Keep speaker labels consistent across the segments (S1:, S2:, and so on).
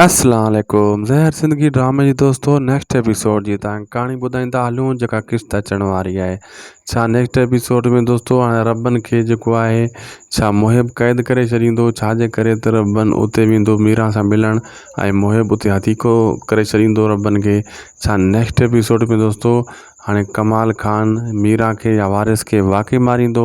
S1: اسلام عليڪم زهر زندگي ڊرامي جي دوستو نيڪسٽ ايپيسوڊ جي تان ڪهاڻي ٻڌائيندا هلون جيڪا قسط اچڻ واري آهي ڇا نيڪسٽ ايپيسوڊ ۾ دوستو هاڻي ربن کي جيڪو آهي ڇا محب قيد ڪري ڇڏيندو ڇا جي ڪري ته ربن اتي ويندو ميرا سان ملڻ ۽ محب اتي حديقو ڪري ڇڏيندو ربن کي ڇا نيڪسٽ ايپيسوڊ ۾ دوستو هاڻي ڪمال خان ميرا کي يا وارث کي واقعي ماريندو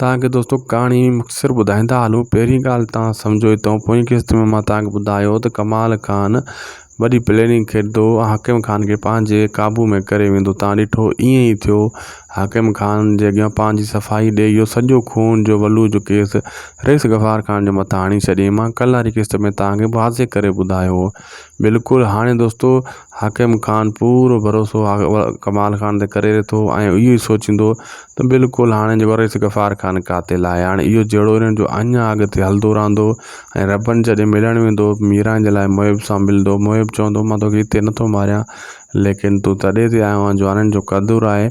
S1: توهان کي دوستو ڪهاڻي مختصر ٻڌائيندا هلون پهرين ڳالهه توهان سمجهو اٿو پوئين قسط ۾ مان توهان کي ٻڌايو ته ڪمال خان وڏي پليننگ کيڏندو حاڪم خان کي پنهنجي قابو ۾ ڪري ويندو توهان ڏٺو ائين ئي ٿيو حاڪم خان جي اڳيان پنهنجي صفائي ڏئي اهو سڄو خون جو ولو جو ڪيس رئيس غفار خان جي مٿان هڻي ڇڏيائين مان ڪل واري قسط ۾ توهان کي واضح ڪري ٻڌايو هو بلڪل هاڻي دوستو حاڪم خان پورو ڀروسو ڪمال خان تي ڪري ٿو ۽ اهو ئي سوچيندو ته بلڪل هاڻي جو وريس غفار خان قاتل آهي هاڻي اهو جهيڙو انهن جو اڃا اڳتي هلندو رهندو ۽ ربن جڏهن ملڻ ويندو ميران جي لاء محب سان ملندو محب چوندو مان توکي هتي نٿو ماريان ليڪن تون تڏي تي آيو آهين جو هنن جو قدر آهي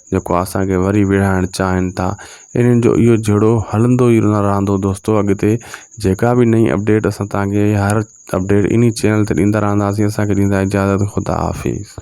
S1: جيڪو اسان کي وري وڙهائڻ چاهين ٿا انهن جو اهو جهيڙو هلندو ئي رهندو دوستو اڳتي جيڪا به نئي اپڊيٽ اسان تهانکي هر اپڊيٽ انهي چينل تي ڏيندا رهنداسين اسانکي ڏيندا اجازت خدا حافظ